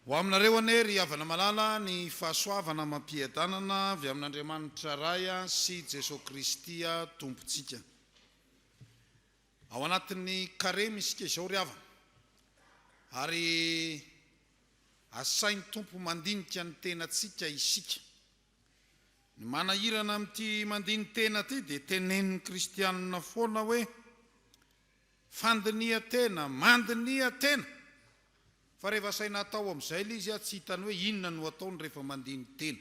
Ho aminareo anie ry havana malala ny fahasoavana amam-piadanana avy amin'Andriamanitra Ray sy Jesoa Kristy Tompontsika. Ao anatin'ny Karemy isika izao ry havana ary asain'ny Tompo mandinika ny tenantsika isika. Ny manahirana amin'ity mandini-tena ity dia tenenin'ny kristianina foana hoe Fandiniha tena, mandiniha tena! Fa rehefa asaina atao amin'izay le izy tsy hitany hoe inona no ataony rehefa mandiny tena.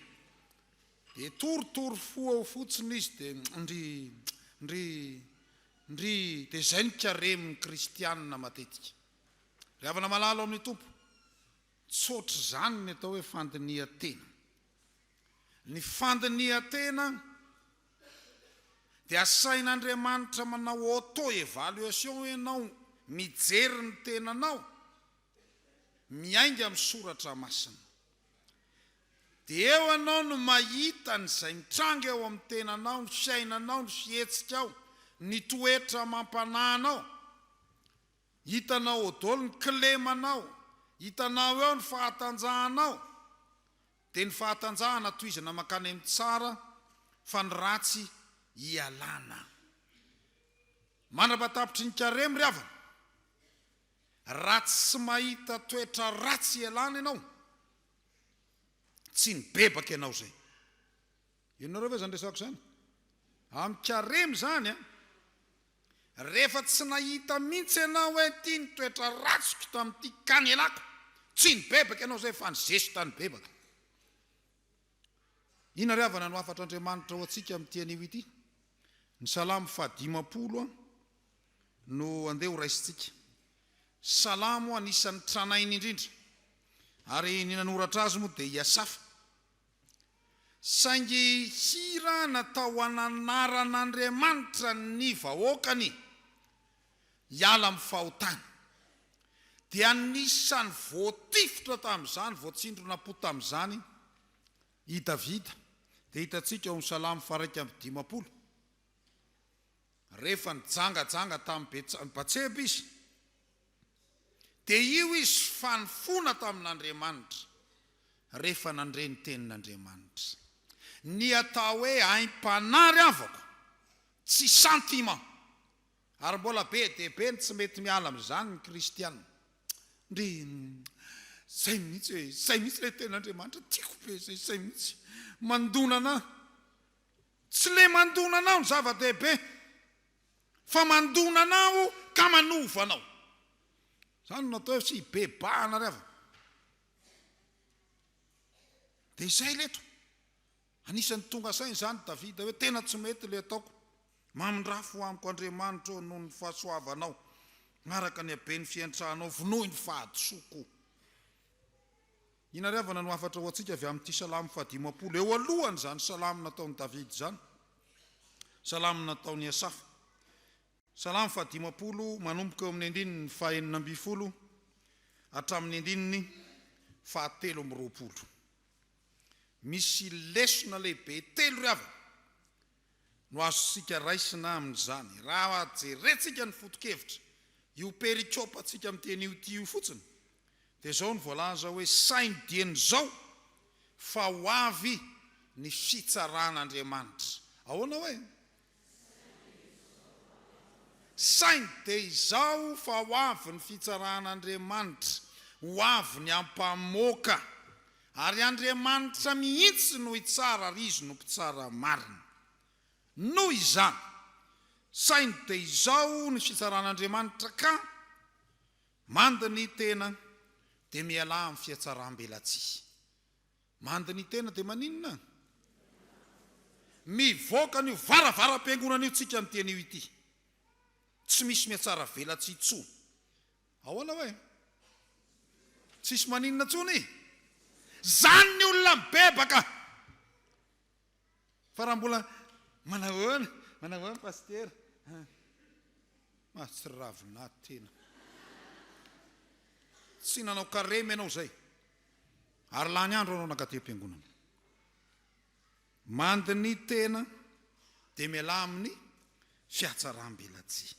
De torotoro fo ao fotsiny izy de ndry, ndry, ndry, de zay ny karemy ny kristianina matetika. Ry havana malala ao amin'ny Tompo, tsy ohatr'izany ny atao hoe fandiniha tena. Ny fandiniha tena. Dia asain'Andriamanitra manao auto evaluation ianao mijery ny tenanao miainga amin'ny soratra masina. Dia eo ianao no mahita an'izay mitranga eo amin'ny tenanao, ny fiainanao, ny fihetsikao, ny toetra amam-panahy anao. Hitanao ao daholo ny kilemanao, hitanao eo ny fahatanjahanao. Dia ny fahatanjahana tohizana mankany amin'ny tsara fa ny ratsy ialana. Mandrapahatapitry ny Carême ry havana, raha tsy mahita toetra ratsy ialana ianao, tsy nibebaka ianao izay. Henonareo ve izany resako izany? Amin karemy izany an! Rehefa tsy nahita mihitsy ianao hoe ity ny toetra ratsiko tamin'ity kanelako, tsy nibebaka ianao izay fa ny zesta nibebaka. Inona ary havana no hafatr'Andriamanitra ho antsika amin'ity anio ity? Ny salamo faha dimampolo an, no andeha ho raisintsika. Salamo anisan'ny tranainy indrindra, ary ny nanoratra azy moa dia i Asafa. Saingy hira natao hananaran'Andriamanitra ny vahoakany hiala amin'ny fahotana. Dia anisan'ny voatifitra tamin'izany, voatsindronam-po tamin'izany i Davida. Dia hitantsika ao amin'ny Salamo faha-iraika amby dimampolo. Rehefa nijangajanga tamin'i Betsa-Batseba izy, dia io izy fa nifona tamin'Andriamanitra, rehefa nandre ny tenin'Andriamanitra. Ny atao hoe aim-panahy ry havako, tsy sentiment. Ary mbola be dia be ny tsy mety miala amin'izany ny kristiana. Ndry, izay mihitsy e, izay mihitsy ilay tenin'Andriamanitra, tiako be izay, izay mihitsy, mandona anà. Tsy le mandona anao no zava-dehibe fa mandona anao ka manova anao. Zany no atao hoe tsy hibebahana ry havana. Dia izay leto. Anisan'ny tonga saina izany Davida hoe tena tsy mety le ataoko. Mamindrafo amiko Andriamanitro ô noho ny fahasoavanao, araka ny haben'ny fiantranao vonoy ny fahadisoako. Inariavana no hafatra ho antsika avy amin'ity salamo fahadimampolo eo alohan'izany salamo nataon'i Davida izany, salamo nataon'i Asafa. Salamo fahadimampolo, manomboka eo amin'ny andininy fahenina ambin'ny folo hatramin'ny andininy fahatelo amby roapolo. Misy lesona lehibe telo ry havana no azontsika raisina amin'izany? Raha jerentsika ny foto-kevitra, io perikopantsika miteny io ity io fotsiny, dia izao no voalaza hoe, Saingy dieny izao fa ho avy ny fitsaran'Andriamanitra. Ahoana hoe? Saingy dia izao fa ho avy ny fitsaran'Andriamanitra, ho avy ny hampamoaka. Ary Andriamanitra mihitsy no hitsara ary Izy no Mpitsara marina. Noho izany, saingy dia izao ny fitsaran'Andriamanitra ka, Mandy ny tena, dia mialà amin'ny fihatsarambelatsihy. Mandy ny tena dia maninona? Mivoaka an'io varavaram-piangonana io tsika miteny io ity. Tsy misy mihatsaravelatsihy intsony Ahoana hoe? Tsisy maninona tsony? Zany ny olona mibebaka! Fa raha mbola manahoana, manahoana Pasitera? Mahatsiravina tena. Tsy nanao karemy ianao izay, ary lany andro ianao nankaty am-piangonana. Mandy ny tena dia mialà amin'ny fiatsaram-belatsihy.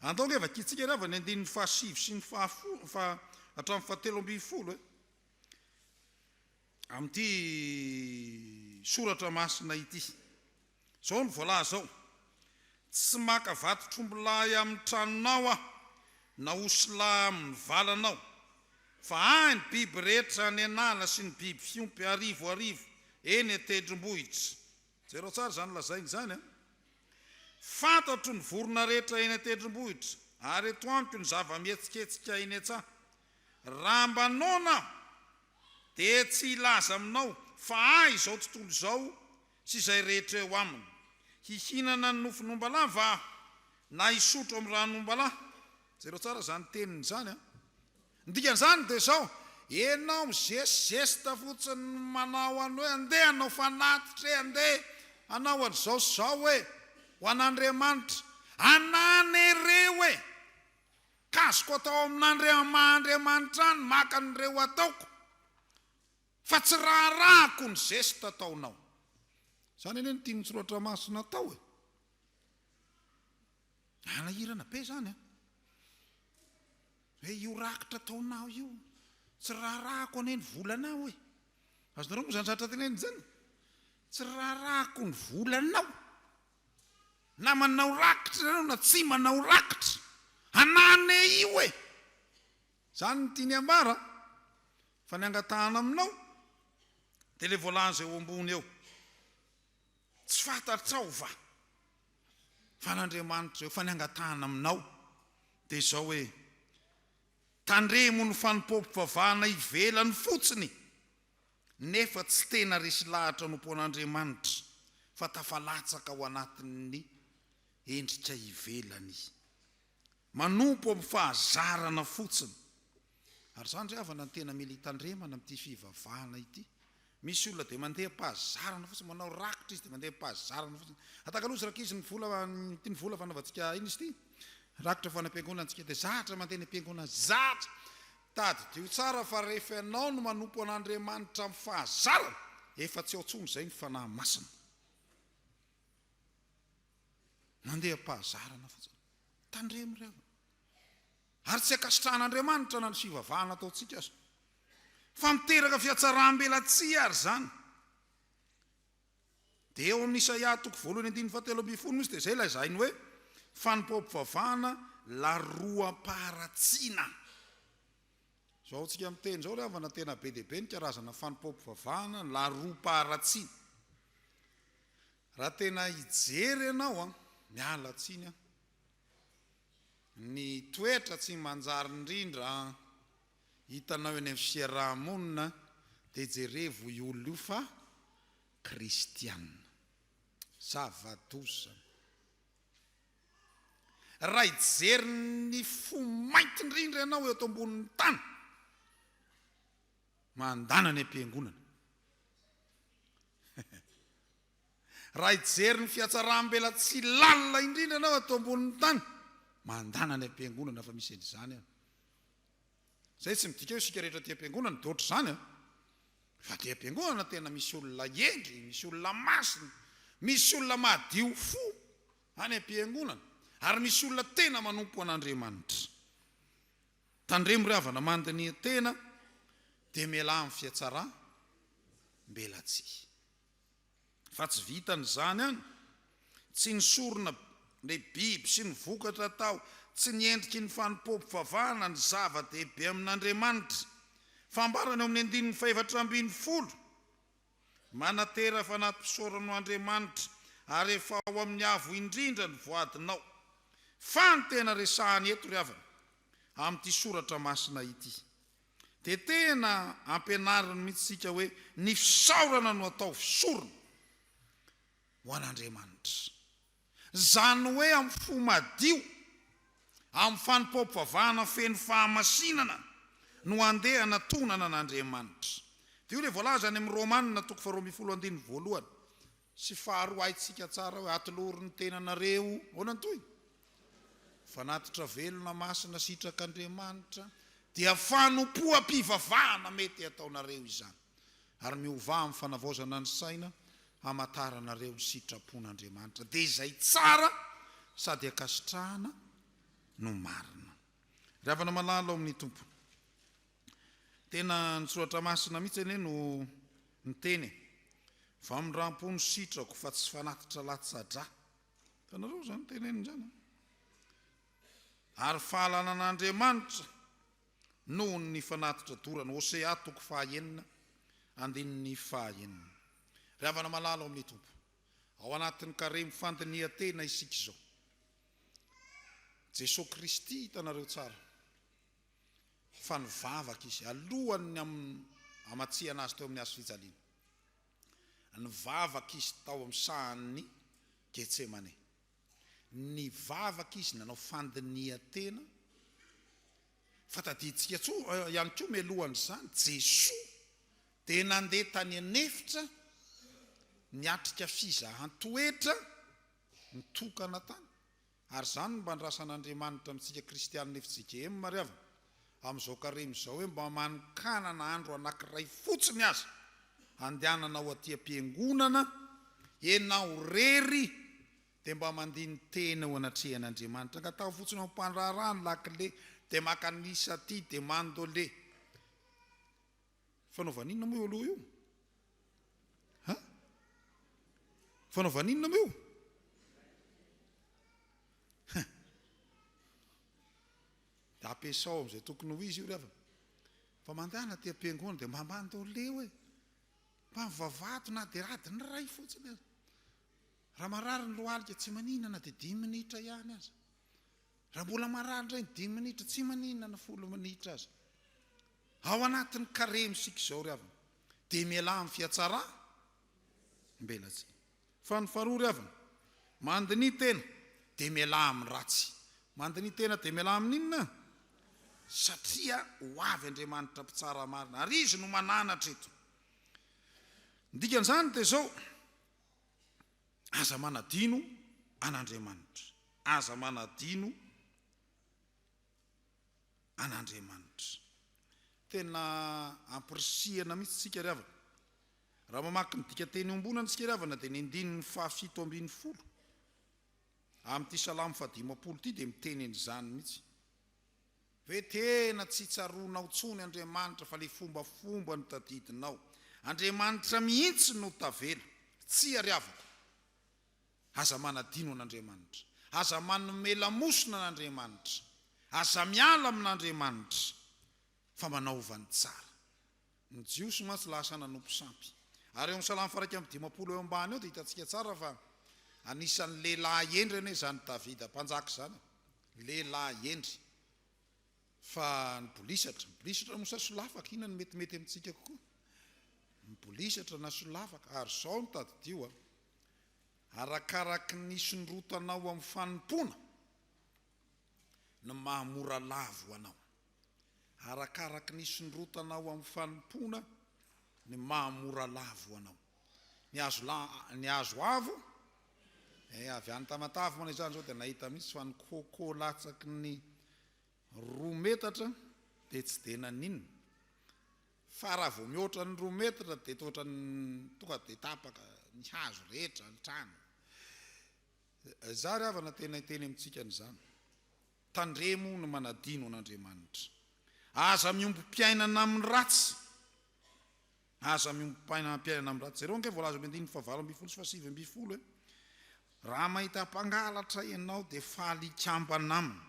Andao ange vakintsika re avy ny andininy fahasivy sy ny fahafolo fa hatramin'ny fahatelo ambin'ny folo e! Amin'ity soratra masina ity. Izao no voalaza ao, Tsy maka vatotr'ombilahy amin'ny tranonao aho, na osilahy amin'ny valanao, fa ahy ny biby rehetra any an'ala sy ny biby fiompy arivo arivo eny an-tendrombohitra. Jerao tsara izany lazainy izany an! Fantatro ny vorona rehetra eny an-tendrombohitra, ary eto amiko ny zava-mihetsiketsika eny an-tsaha. Raha mba noana aho, dia tsy hilaza aminao fa ahy izao tontolo izao Tsy izay rehetra eo aminy. Hihinana ny nofon'ombalahy va aho, na hisotro amin'ny ran'ombalahy? Jereo tsara izany teniny izany an! Ny dikan'izany dia izao, ianao mizesizesita fotsiny manao an'i hoe andeha hanao fanatitra e, andeha hanao an'izao sy izao e, ho an'Andriamanitra. Ananereo e! Kaziko atao amin'ny maha Andriamanitra ahy ny maka an'ireo ataoko. fa tsy raharahako ny zesta ataonao. Zany anie no tian'ny soratra masina atao e. Hanahirana be zany an. Hoe io rakitra ataonao io, tsy raharahako anie ny volanao e. Azonareo moa zany zatra tenenina zany? Tsy raharahako ny volanao. Na manao rakitra ianao na tsy manao rakitra. Hanane io e. Zany no tiany ambara. Fa ny angatahana aminao dia ilay voalaza eo ambony eo, tsy fantatrao va fa an'Andriamanitra eo, fa ny angatahana aminao dia izao hoe, tandremo ny fanompoam-pivavahana ivelany fotsiny, nefa tsy tena resy lahatra anompoan'Andriamanitra, fa tafalatsaka ao anatin'ny endrika ivelany Manompo amin'ny fahazarana fotsiny. Ary izany ry havana no tena mila hitandremana amin'ity fivavahana ity. Misy olona dia mandeha am-pahazarana fotsiny, manao rakitra izy dia mandeha am-pahazarana fotsiny. Atakalo ozy rankizy ny vola, ity ny vola fanaovantsika aina izy ity, rakitra ho an'am-piangonana antsika dia zatra mandeha any am-piangonana, zatra. Tadidio tsara fa rehefa ianao no manompo an'Andriamanitra amin'ny fahazarana, efa tsy ao intsony izay ny Fanahy Masina. Mandeha am-pahazarana fotsiny. Tandremo ry havana. Ary tsy ankasitrahan'Andriamanitra na ny fivavahana ataontsika aza. Fa miteraka fihatsarambelatsihy ary izany. Dia eo amin'ny Isaia toko voalohany andininy fahatelo ambin'ny folo misy dia izay lazainy hoe fanompoam-pivavahana laroam-paharatsiana. Zao tsika miteny izao ry havana tena be dia be ny karazana fanompoam-pivavahana ny laharom-paharatsiny. Raha tena hijery ianao an, miala tsiny an, ny toetra tsy manjary indrindra hitanao eny amin'ny fiaraha-monina dia jerevo io olona io fa kristiana. Zava-doza. Raha hijery ny fo mainty indrindra ianao eto ambonin'ny tany, mandana ny am-piangonana. Raha hijery ny fihatsaram-belatsihy lalina indrindra ianao eto ambonin'ny tany, mandana ny am-piangonana fa misy an'izany any. Izay tsy midika hoe isika rehetra aty am-piangonana dia ohatr'izany an! Fa aty am-piangonana tena misy olona hendry, misy olona masina, misy olona madio fo any am-piangonana, ary misy olona tena manompo an'Andriamanitra. Tandremo ry havana, mandiniha tena, dia mialà amin'ny fihatsaram-belatsihy. Fa tsy vitan'izany ihany, tsy ny sorona, ny biby sy ny vokatra atao, tsy ny endriky ny fanompoam-pivavahana ny zava-dehibe amin'Andriamanitra. Fambarana eo amin'ny andininy fahefatra ambin'ny folo, Manatera fanatosorano Andriamanitra, ary efa ao amin'ny avo indrindra ny voadinao. Fa ny tena resahany eto ry havana, amin'ity soratra masina ity. Dia tena ampianariny mihitsy isika hoe ny fisaorana no ataovy sorona ho an'Andriamanitra. Izany hoe amin'ny fo madio, amin'ny fanompoam-pivavahana feno fahamasinana no andeha hanatonana an'Andriamanitra. Dia io ilay voalaza any amin'ny Romana toko faharoa ambin'ny folo andininy voalohany, Sy faharoa haintsika tsara hoe atolory ny tenanareo ahoana ny tohiny? Fanatitra velona masina sitrak'Andriamanitra dia fanompoam-pivavahana mety hataonareo izany ary miovà amin'ny fanavaozana ny saina hamantaranareo ny sitrapon'Andriamanitra dia izay tsara sady ankasitrahana no marina. Ry havana malala ao amin'ny Tompo. Tena ny soratra masina mihitsy anie no miteny e. Famindrampo no sitrako fa tsy fanatitra latsa-dra. Hitanareo izany teneniny izany an. Ary fahalana an'Andriamanitra nohon' ny fanatitra dorana. Hosea toko faha enina andininy faha enina. Ry havana malala ao amin'ny Tompo, ao anatin'ny karemy fandinihan-tena isika izao. Jesoa Kristy hitanareo tsara. fa nivavaka izy alohan' ny hamatsiana azy teo amin' ny hazo fijaliana. Nivavaka izy tao amin' ny sahan' i Getsemane. Nivavaka izy nanao fandinihan-tena, fa tadidintsika ihany koa mialohan' izany, Jesoa dia nandeha tany an-efitra niatrika fizahan-toetra nitokana tany. Ary izany no mba andrasan'Andriamanitra amintsika kristianina fjkm mariavina, amin'izao karemy izao hoe mba manokanana andro anankiray fotsiny aza handehanana ho aty am-piangonana ianao rery dia mba mandini-tena eo anatrehan'Andriamanitra, angataho fotsiny ao am-pandraharaha ny lakile dia maka ny isaty dia mandole. Fanaovana inona moa eo aloha io? Ha? Fanaovana inona moa io? Ha. Dia ampiasao amin'izay tokony ho izy io ry havana. Fa mandana aty am-piangonana dia mba mandole hoe mba mivavato na dia adiny iray fotsiny aza. Raha marary ny lohalika tsy manina na dia dimy minitra ihany aza. Raha mbola marary indray ny dimy minitra tsy manina na folo minitra aza. Ao anatin'ny karemy isika izao ry havana dia mialà amin'ny fihatsaram-belatsihy. Fa ny faharoa ry havana, mandiniha tena dia mialà amin'ny ratsy. Mandiniha tena dia mialà amin'ny inona? Satria ho avy Andriamanitra mpitsara marina ary Izy no mananatra eto. Ny dikan'izany dia izao, aza manadino an'Andriamanitra. Aza manadino. an'Andriamanitra. Tena ampirisihana mihitsy isika ry havana, raha mamaky ny dikanteny iombonana isika ry havana dia ny andininy fahafito ambin'ny folo amin'ity salamo fahadimampolo ity dia miteny an'izany mihitsy. Ve tena tsy tsaroanao tsony Andriamanitra fa ilay fombafomba no tadidinao? Andriamanitra mihitsy no tavela. Tsia ry havako. Aza manadino an'Andriamanitra. Aza manome lamosina an'Andriamanitra. Aza miala amin'Andriamanitra. Fa manaova ny tsara. Ny Jiosy mantsy lasa nanompo sampy. Ary eo amin'ny Salamo faharaika amby dimampolo eo ambany eo dia hitantsika tsara fa anisan'ny lehilahy hendry anie izany Davida mpanjaka izany. Lehilahy hendry. Fa nibolisatra. Mibolisatra moa sa solafaka? Inona no metimety amintsika kokoa? Mibolisatra na solafaka? Ary izao no tadidio a. Arakaraky ny hisondrotanao amin'ny fanompoana no maha mora lavo ho anao. Arakaraky ny hisondrotanao amin'ny fanompoana no maha mora lavo ho anao. Ny hazo la, ny hazo avo, eh, avy any Tamatave moa izany izao dia nahita mihitsy fa ny coco latsaky ny roa metatra dia tsy dia naninona. Fa raha vao mihoatra ny roa metatra dia toa ohatran'ny tonga dia tapaka ny hazo rehetra, ny trano. Izaho ry havana tena hiteny amintsika an'izany. Tandremo ny manadino an'Andriamanitra. Aza miombom-piainana amin'ny ratsy. Aza miombom-piainana amin'ny ratsy. Jereo ange voalaza amin'ny andininy fahavalo ambin'ny folo sy fahasivy ambin'ny folo hoe, Raha mahita mpangalatra ianao dia faly hikambana aminy.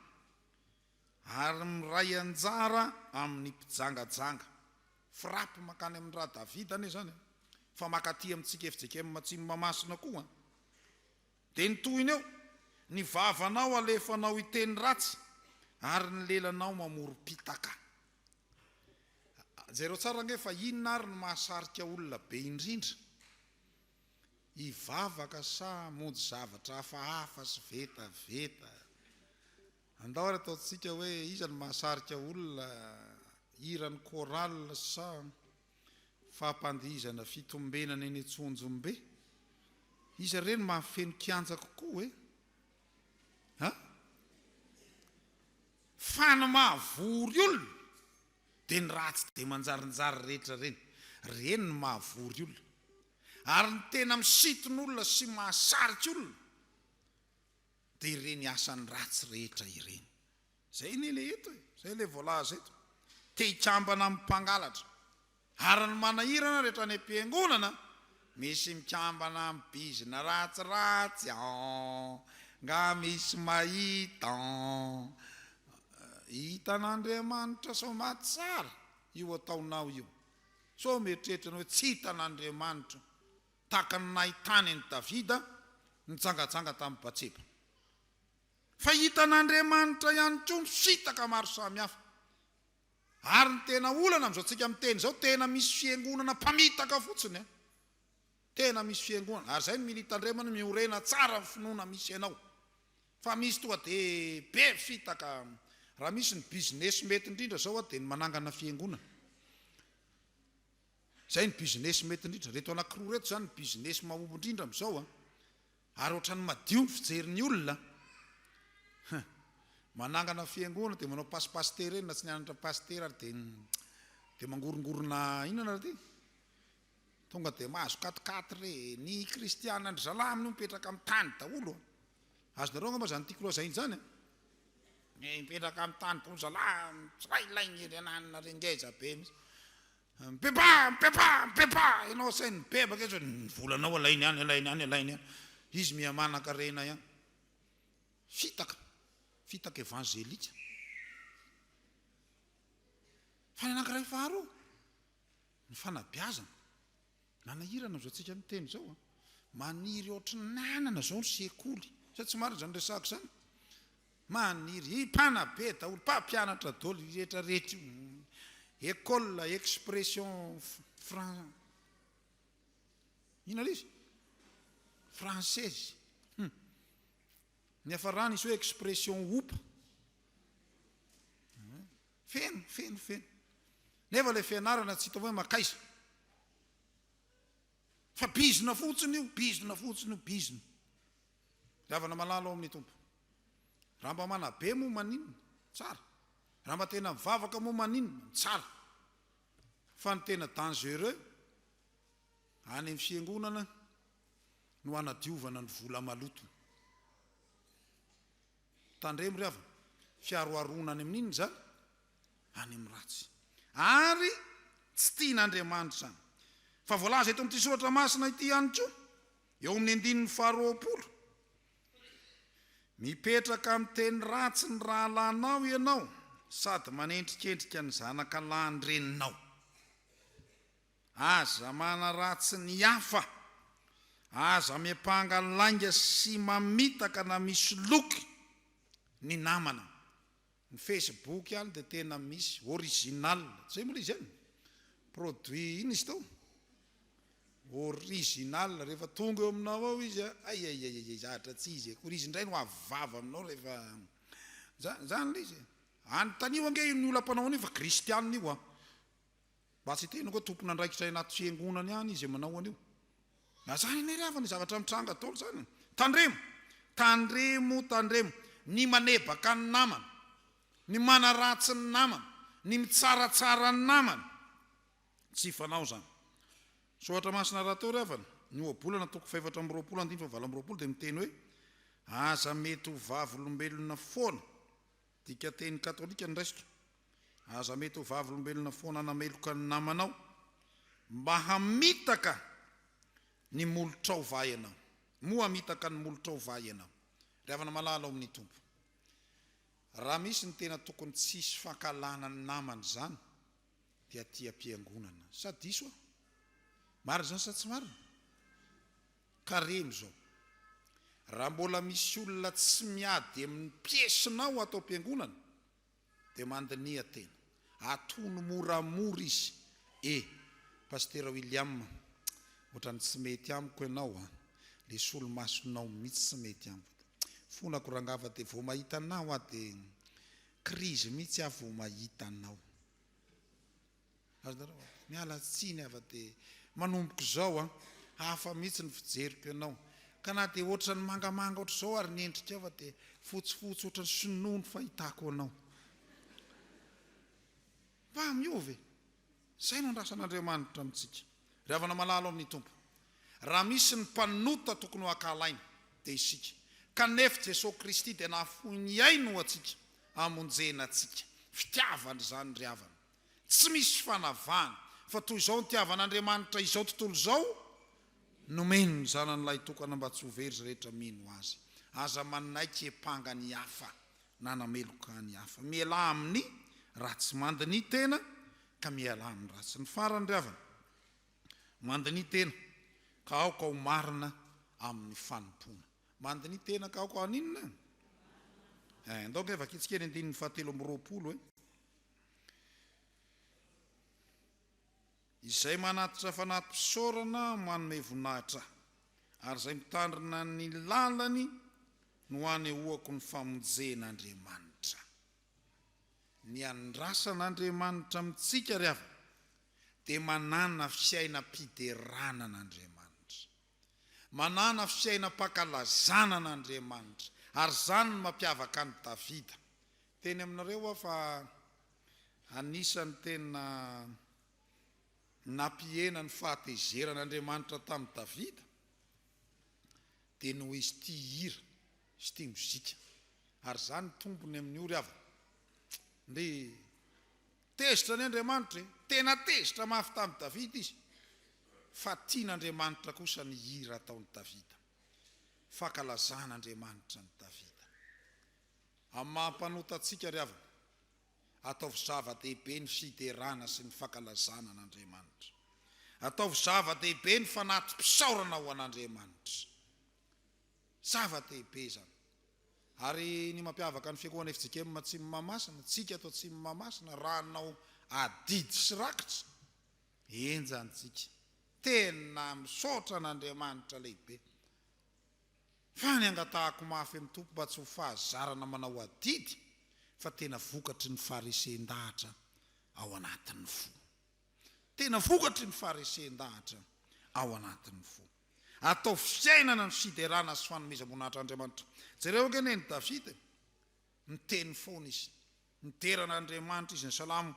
Ary miray anjara amin'ny mpijangajanga. Frappe mankany amin'ny ra Davida anie izany an! Fa mankaty amintsika fjkm Matsimo Mahamasina koa an! Dia ny tohiny eo, ny vavanao alefanao hiteny ratsy ary ny lelanao mamorom-pitaka. Jereo tsara ange fa inona ary no mahasarika olona be indrindra? Hivavaka sa hamonjy zavatra hafahafa sy vetaveta? Andao ary ataontsika hoe iza no mahasarika olona hiran'ny chorale sa fampandihizana fitombenana eny Antsonjombe? Iza re no mahafeno kianja kokoa e? Ha? Fa ny mahavory olona dia ny ratsy dia manjarinjary rehetra ireny. Ireny no mahavory olona. Ary ny tena misiton'olona sy mahasarika olona dia ireny asany ratsy rehetra ireny. Izay anie ilay eto e, izay ilay voalaza eto. Te hikambana amin'ny mpangalatra. Ary ny manahirana rehetra any am-piangonana, misy mikambana amin'ny bizina ratsiratsy an! Nga misy mahita an! Hitan'Andriamanitra sao maty tsara io ataonao io? Sao mieritreritra anao hoe tsy hitan'Andriamanitra? tahaka ny nahitany an'i Davida nijangajanga tamin'i Batseba. Fa hitan'Andriamanitra ihany koa ny fitaka maro samihafa. Ary ny tena olana amin'izao tsika miteny izao, tena misy fiangonana mpamitaka fotsiny an! Tena misy fiangonana, ary izay no mila hitandremana, miorena tsara ny finoana misy ianao. Fa misy tonga dia be fitaka, raha misy ny business mety indrindra izao an, dia ny manangana fiangonana. Izay ny business mety indrindra. Ireto anankiroa ireto izany ny business mahomby indrindra amin'izao an! Ary ohatran'ny madio ny fijerin'ny olona an! Manangana fiangonana dia manao passe pasitera eny raha tsy nianatra pasitera ary dia dia mangorongorona inona nareo ty? Tonga dia mahazo quat-quatre re! Ny kristiana ndry zalahy amin'io mipetraka amin'ny tany daholo an! Azonareo angamba izany tiako lazaina izany an! Mipetraka amin'ny tany daholo zalahy tsirailahy ny renanina re! Ngeza be mihitsy! Mipepaha! Mipepaha! Mipepaha! Ianao sahy mibebaka eto, ny volanao alainy any, alainy any, alainy any. Izy miha-manan-karena ihany. Fitaka, fitaka evanzelika. Fa ny anankiray faharoa, ny fanabeazana. Nanahirana izao tsika miteny izao a! Maniry ohatry ny nanana izao ny sekoly. Sa tsy marina izany resahako izany? Maniry ih! Mpanabe daholo, mpampianatra daholo io rehetra rehetra io. École expression fran inona ilay izy? Française. Hum. Niafarany izy hoe expression opa. Feno, feno, feno. Nefa ilay fianarana tsy hita hoe mankaiza. Fa bizina fotsiny io, bizina fotsiny io, bizina. Diavana malala ao amin'ny Tompo. Raha mba manabe moa maninona? Tsara. Raha mba tena mivavaka moa maninona? Tsara. Fa ny tena dangereux any amin'ny fiangonana no anadiovana ny vola maloto. Tandremo ry havana, fiaroharoana any amin'inona izany? Any amin'ny ratsy. Ary tsy tian'Andriamanitra izany. Fa voalaza eto amin'ity soratra masina ity ihany koa, eo amin'ny andininy faharoapolo, Mipetraka amin'ny teny ratsy ny rahalahinao ianao, sady manendrikendrika ny zanaka lahin-dreninao. Aza manaratsy ny hafa. Aza miampanga lainga sy mamitaka na misoloky ny namana. Ny Facebook ihany dia tena misy, original. Zay moa le izy an? Produit inona izy teo? Original, rehefa tonga eo aminao ao izy an, aiaiaiaiai, zatra tsy izy akory, izy indray no avo vava aminao rehefa, zany, zany le izy e. Anontaniho ange io ny olam-panaon'io fa kristianina io an. Mba tsy hiteny koa tompon'andraikitra any anaty fiangonana any izay manao an'io. Na zany anie ry havana zavatra mitranga daholo zany. Tandremo, tandremo, tandremo. Ny manebaka ny namana, ny manaratsy ny namana, ny mitsaratsara ny namana. Tsy fanao zany. Soratra masina raha atao ry havana, ny ohabolana toko fahefatra amby roapolo andininy fahavalo amby roapolo dia miteny hoe, Aza mety ho vavolombelona foana. Dikanteny katolika ny raisiko. Aza mety ho vavolombelona foana nameloka ny namanao mba hamitaka ny molotrao va ianao? Moa hamitaka ny molotrao va ianao? Ry havana malala ao amin'ny Tompo, raha misy ny tena tokony tsy hisy fankahalana ny namana izany dia aty am-piangonana. Sa diso aho? Marina izany sa tsy marina? Karemy izao. Raha mbola misy olona tsy miady amin'ny piesinao ato am-piangonana dia mandiniha tena. Atono moramora izy e. Pasitera William a! Ohatran'ny tsy mety amiko ianao a! Le solomasonao mitsy tsy mety amiko. Fonako rangah fa dia vao mahita anao aho dia krizy mitsy aho vao mahita anao. Azonareo an. Miala tsiny afa de manomboka izao an. Hafa mihitsy ny fijeriko ianao. Ka na dia ohatran'ny mangamanga ohatr'izao ary ny endrikao fa dia fotsifotsy ohatran'ny sinoa ny fahitako anao. Mba miova e. Izay no andrasan'Andriamanitra amintsika. Ry havana malala ao amin'ny Tompo. Raha misy ny mpanota tokony ho ankahalaina dia isika. Kanef Jesoa Kristy dia nahafoy ny ainy ho antsika hamonjena antsika. Fitiavana izany ry havana. Tsy misy fanavahana fa toy izao nitiavan'Andriamanitra izao tontolo izao, nomeny ny Zanany Lahitokana mba tsy ho very izay rehetra mino Azy. Aza manaiky hiampanga ny hafa na hanameloka ny hafa. Mialà amin'ny ratsy. Mandinihy tena ka mialà amin'ny ratsy. Ny farany ry havana, mandinihy tena ka aoka ho marina amin'ny fanompoana. Mandinihy tena ka aoka haninona? Eh, andao ange vakintsika ny andininy fahatelo amby roapolo eh. Izay manatitra fanati-pisaorana manome voninahitra Ahy, ary izay mitandrina ny lalany no hanehoako ny famonjen' Andriamanitra. Ny andrasan' Andriamanitra amintsika ry havana dia manana fiainam-piderana an' Andriamanitra. Manana fiainam-pankalazana an' Andriamanitra, ary izany no mampiavaka an'i Davida. Teny aminareo aho fa anisan'ny tena nampihena ny fahatezeran' Andriamanitra tamin'i Davida dia noho izy tia hira sy tia mozika, ary izany tombony amin'ny ory havana. Ndry. Tezitra ny Andriamanitra e! Tena tezitra mafy tamin'i Davida izy, fa tian'Andriamanitra kosa ny hira ataon'i Davida. Fankalazan'Andriamanitra an'i Davida. Amin'ny maha mpanota antsika ry havana, ataovy zava-dehibe ny fiderana sy ny fankalazana an'Andriamanitra. Ataovy zava-dehibe ny fanati-pisaorana ho an'Andriamanitra. Zava-dehibe izany. Ary ny mampiavaka ny Fiangonana fjkm Atsimo Mahamasina, tsika ato Atsimo Mahamasina, raha hanao adidy sy rakitra, enjany tsika. Tena misaotra an'Andriamanitra lehibe. Fa ny angatahako mafy amin'ny Tompo mba tsy ho fahazarana manao adidy fa tena vokatry ny farisen-dahatra ao anatin'ny fo. Tena vokatry ny faharesen-dahatra ao anatin'ny fo. Ataovy fiainana ny fiderana sy fanomezam-boninahitra Andriamanitra. Jereo ange anie ny Davida e! Niteny foana izy. Midera an'Andriamanitra izy, ny Salamo,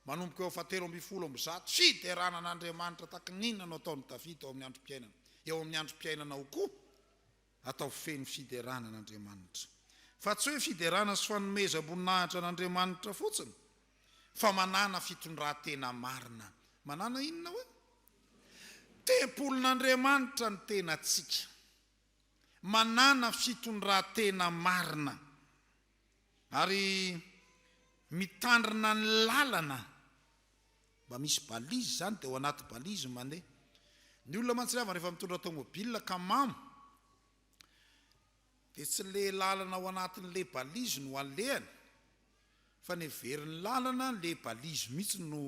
manomboka eo fahatelo ambin'ny folo amby zato. Fiderana an'Andriamanitra tahaka ny inona no ataon'i Davida ao amin'ny androm-piainana, eo amin'ny androm-piainanao koa? Ataovy feno fiderana an'Andriamanitra. Fa tsy hoe fiderana sy fanomezam-boninahitra an'Andriamanitra fotsiny, fa manàna fitondran-tena marina. Manàna inona hoe? Tempolin'Andriamanitra ny tenantsika. Manàna fitondran-tena marina. Ary mitandrina ny lalana, mba misy balise izany dia ao anaty balise mane. Ny olona mantsy rehava rehefa mitondra tomobile ka mamo dia tsy le lalana ao anatin le balise no alehany fa ny heverin'ny lalana le balise mihitsy no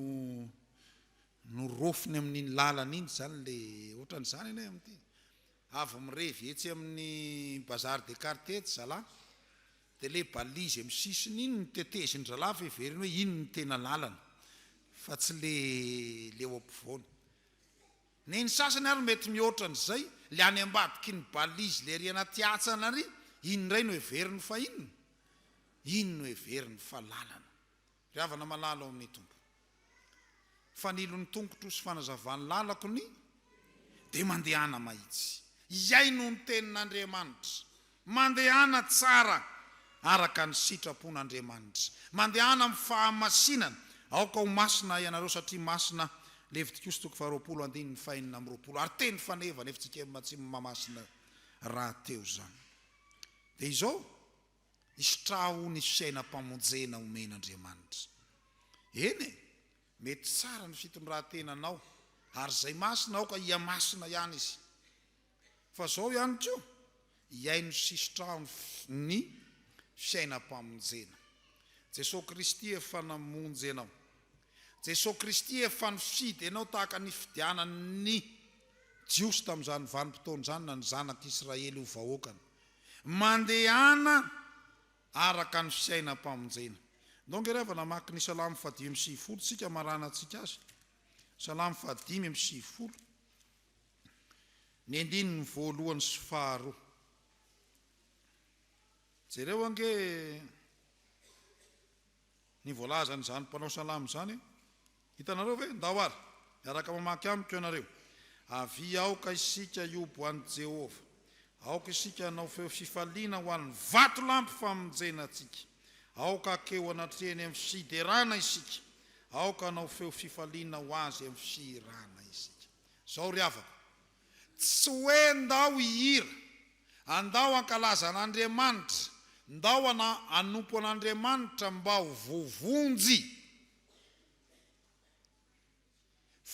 no rofiny amin'iny lalana iny izany le ohatran'izany anie amin'ity. Avy mirevy etsy amin'ny bazar des cartes etsy zalah dia ilay balise amin'ny sisiny iny no teteziny zalah fa heveriny hoe iny no tena lalana fa tsy ilay eo ampovoany. Ny ny sasany ary mety mihoatra an'izay, ilay any ambadiky ny balise ilay ery anaty hatsana ary iny indray no heveriny fa inona? iny no heveriny fa lalana. Ry havana malala ao amin'ny Tompo, fanilon'ny tongotro sy fanazavan'ny lalako ny dia mandehana mahitsy. Hihaino ny tenin'Andriamanitra. Mandehana tsara araka ny sitrapon'Andriamanitra. Mandehana amin'ny fahamasinana. Aoka ho masina ianareo satria masina. Levitikosy toko faharoapolo andininy fahenina amby roapolo. Ary teny faneva, nefa tsy kemba tsy mahamasina rahateo izany. Dia izao. Isitraho ny fiainam-pamonjena omen'Andriamanitra. Eny e, mety tsara ny fitondran-tenanao ary izay masina aoka hihamasina ihany izy. Fa izao ihany koa, hihaino sy hisitraho ny fiainam-pamonjena. Jesosy Kristy efa namonjy anao. Jesosy Kristy efa nifidy anao tahaka ny nifidianan'ny Jiosy tamin'izany vanim-potoana izany na ny zanak'Israely ho vahoakany. Mandehana araka ny fiainam-pamonjena. Ndao nge rava namaky ny Salamo fahadimy amby sivifolo tsika maranantsika azy. Salamo fahadimy amby sivifolo, ny andininy voalohany sy faharoa. Jereo ange Ny voalazan' izany mpanao salamo izany, Hitanareo ve? Ndao ary, miaraka mamaky amiko ianareo, Avia aoka isika hiobo an'i Jehovah, Aoka isika hanao feo fifaliana ho an'ny vatolampy famonjena antsika, Aoka hakeo anatrehany amin'ny fiderana isika, Aoka hanao feo fifaliana ho azy amin'ny fihirana isika. Izao ry havako, Tsy hoe ndao hihira, andao hankalaza an'Andriamanitra, ndao hanompo an'Andriamanitra mba ho voavonjy,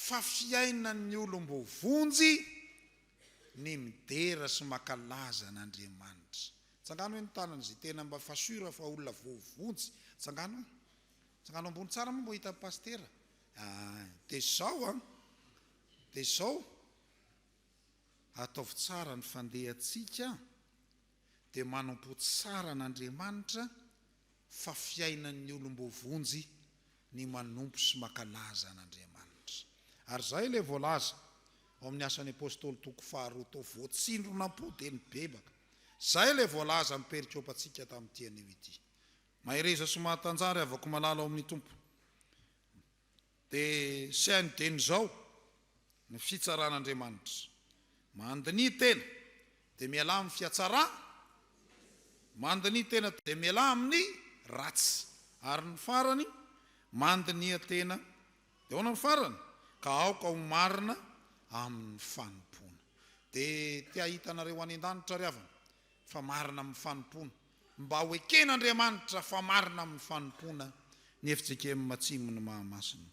fa fiainan'ny olom-boavonjy ny midera sy mankalaza an'Andriamanitra. Tsangano hoe ny tanana izay tena mba fa sûr fa olona voavonjy. Tsangano hoe. Tsangano ambony tsara moa mba ho hitan'ny Pasitera. Ah, dia izao an. Dia izao, ataovy tsara ny fandehantsika, dia manampo tsara an'Andriamanitra fa fiainan'ny olom-boavonjy ny manompo sy mankalaza an'Andriamanitra. Ary izay ilay voalaza ao amin'ny Asan'ny Apostoly toko faharoa tao, voatsindrona po dia nibebaka. Izay ilay voalaza amin'ny perikopa antsika tamin'ity anio ity. Mahereza sy mahatanjahary havako malala ao amin'ny Tompo. Dia saingy dia nizao ny fitsaran'Andriamanitra. Mandiniha tena dia mialà amin'ny fiatsara, mandiniha tena dia mialà amin'ny ratsy, ary ny farany, mandiniha tena dia ahoana ny farany? Ka aoka ho marina amin'ny fanompoana. Dia te hahita anareo any an-danitra ry havana fa marina amin'ny fanompoana. Mba ho eken'Andriamanitra fa marina amin'ny fanompoana ny fjkm Matsimo ny Mahamasina.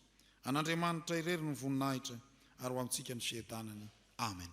An'Andriamanitra irery ny voninahitra ary ho amintsika ny fiadanany. Amen.